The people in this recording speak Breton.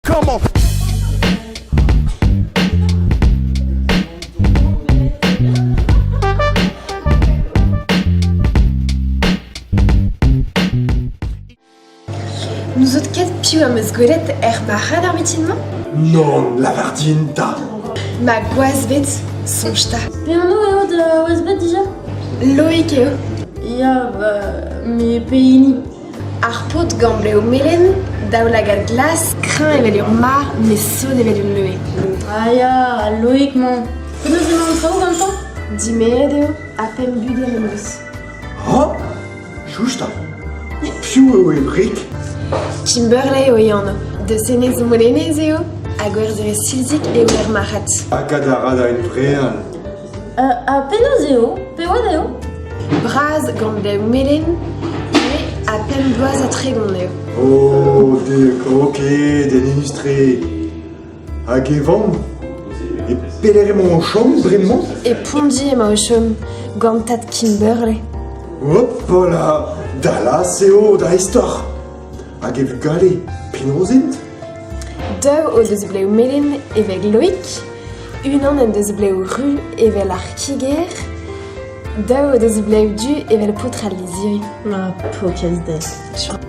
Komañ N'ouzot ket piv am eus gwelet er marc'had ar mitin-mañ? Non, lavar din ta. Ma gwazved, soñj ta. Penaos eo da wazved dija? Loïk eo. Ya, bah, mes pehini Ar paotr gant blev melen, daoulagad glas, kreñv evel ur marv met sonn evel ul leue. Ah ya, al loig-mañ. Penaos emañ an traoù gantañ? Dimeet eo, ha pemp bugel en deus. Ha? Chouch 'ta! Piv eo Emrik? Kimberley eo e anv. Deus enez Molenez eo, ha gwerzherez silzik eo ur marc'had. Hag a ra da en brean. Ha penaos eo ? Peout eo ? Bras gant da melen ivez ha pemp bloaz ha tregont eo. Oh, dek, ok, den inus-tre. Hag e vamm E pelec'h emañ o chom bremañ E Pondi emañ o chom, gant tad Kimberley. Hopala, Dallas eo da istor Hag e vugale, penaos int? Daou o deus blev melen evel Loig, unan en deus blev ru evel ar kiger, daou o deus blev du evel paotr al lizhiri. Ma pokiez dezhe.